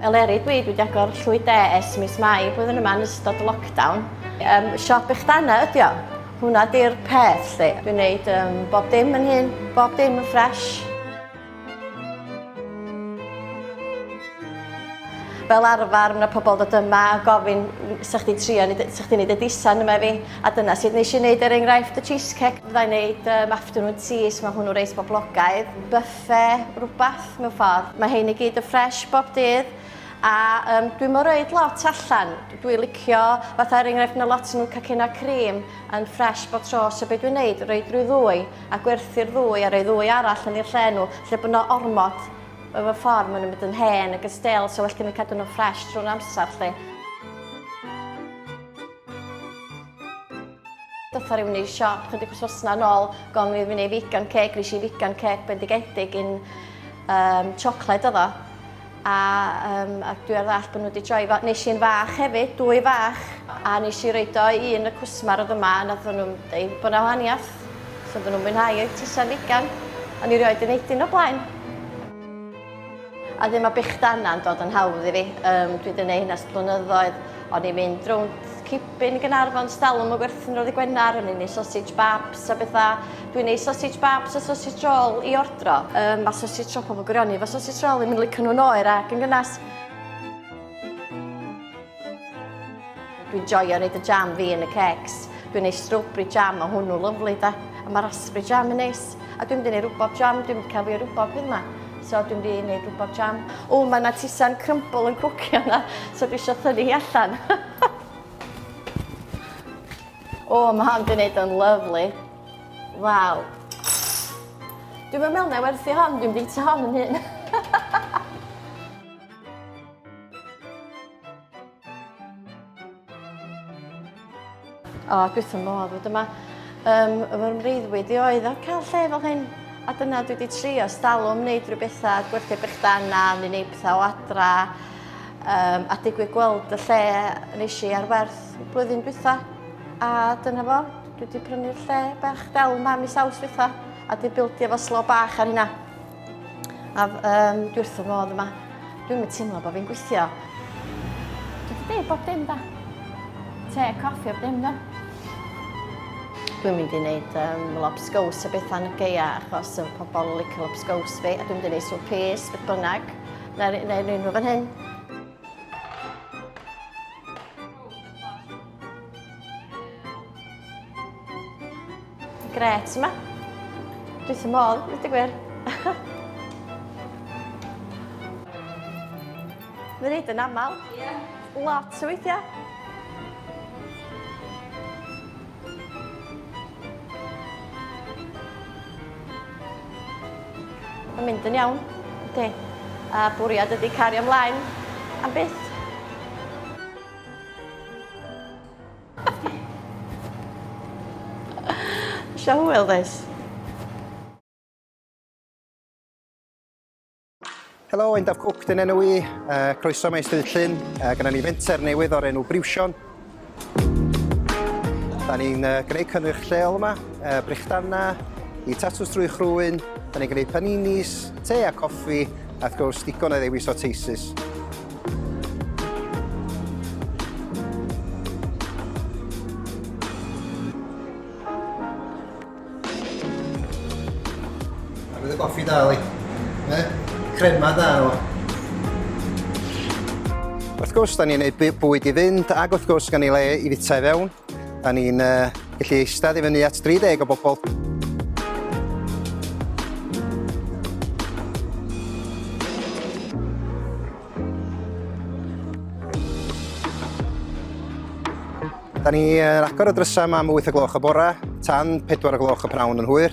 Eleri, dwi wedi agor llwy de es mis mai flwyddyn yma yn ystod lockdown. Um, siop eich dana ydi o. Hwna di'r peth, lle. Dwi'n gwneud um, bob dim yn hyn, bob dim yn ffres. Fel arfer, mae pobl dod yma a gofyn sa'ch di trio, sa'ch di wneud y disan yma fi. A dyna sut nes i wneud er enghraifft y cheesecake. Fydda i'n neud um, afternoon teas, mae hwnnw reit boblogaidd. Buffet, rhywbeth mewn ffordd. Mae hyn i gyd yn ffresh bob dydd. A um, dwi'n mor oed lot allan. Dwi'n licio, fatha er enghraifft, mae lot nhw cacena cream yn ffresh bob tro. So beth dwi'n neud, rhoi drwy ddwy a gwerthu'r ddwy a rhoi ddwy arall yn i'r lle nhw. Lle bod nhw ormod efo ffordd, maen nhw'n mynd yn hen ac yn stel, so well gen i cadw nhw'n ffresh trwy'r amser lle. Dotha rhywun i'r siop chydig wrthnos na'n ôl, gofyn i fi wneud vegan cake, nes i vegan cake bendigedig yn um, siocled oedd o. A, um, a dwi ar ddall bod nhw wedi troi, nes i'n fach hefyd, dwy fach, a nes i roed o i un y cwsmar oedd yma, a nath nhw'n dweud bod na wahaniaeth, so bod nhw'n mwynhau eu tisa vegan, a ni rioed yn neud un o blaen. A ddim a bych dana'n dod yn hawdd i fi. Um, dwi wedi gwneud hynna ers blynyddoedd. O'n i'n mynd rownd Cipin, Gynarfon, Stalwm y Gwerthin roedd y Gwenar, o'n i'n ei sausage babs a bethau. Dwi'n ei sausage babs a sausage roll i ordro. Um, mae sausage roll pobl gwirioni, mae sausage roll i'n mynd licio nhw'n oer ac yn gynnas. Dwi'n joio neud y jam fi yn y cakes. Dwi'n neud strawberry jam, mae hwnnw lyflu da. A mae raspberry jam yn neis. A dwi'n mynd i neud rwbob jam, dwi'n mynd cael fi o rwbob hyn ma. So dwi'n mynd i neud rwbob jam. O, mae yna tisan crumble yn cwcio yna, so dwi eisiau thynnu hi allan. o, mae hon di neud yn lyflu. Waw. Dwi'n meddwl na werthu hon, dwi'n bita hon yn hyn. O, dwi wrth fy modd fod yma. Um, fy mreiddwyd i oedd o'r cael lle fel hyn. A dyna dwi wedi trio stalwm wneud rhyw bethau, gwerthu brechdanna, neu wneud pethau o adra. Um, a digwydd gweld y lle nes i ar werth blwyddyn dwytha. A dyna fo, dwi wedi prynu'r lle bach del yma mis awst dwytha. A di bildio fo slo bach ar hynna. A um, dwi wrth fy modd yma. Dwi'n mynd teimlo bod fi'n gweithio. Dwi wedi dweud bob dim da. Te, coffi, bob dim da. Dwi'n mynd i wneud um, lobsgaws a bethau yn y geia achos y pobl yn licio lobsgaws fi a dwi'n mynd i wneud swp pys, beth bynnag, neu'r neu, neu, neu fan hyn. Gret yma. Dwi ddim modd, dwi gwir. Mae'n neud yn aml. Ie. Yeah. Lot o weithiau. Mae'n mynd yn iawn. Ydy. A bwriad ydy cario ymlaen am byth. Shall we weld this? Helo, Endaf Cook, dyn enw i. Uh, croeso mae Ystryd Llyn. Uh, Gyda ni fenter newydd o'r enw Briwsion. Da ni'n uh, gwneud cynnwyrch lleol yma, uh, brechdanna, i tatws drwy chrwyn, da ni'n gwneud paninis, te a coffi, a wrth gwrs digon o ddewis o teisus. Bydd y goffi da, Eli. Ie? Crema da, o. Wrth gwrs, da ni'n gwneud bwyd i fynd, ac wrth gwrs, gan ei le i fita i fewn. Da ni'n uh, gallu eistedd i fyny at 30 o bobl. Da ni uh, agor y drysau yma am 8 o gloch y bore, tan 4 o gloch y prawn yn hwyr.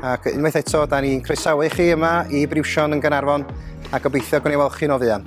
Ac unwaith eto, da ni'n croesawu chi yma i Briwsion yn Gynarfon a gobeithio gwneud weld chi'n o fuan.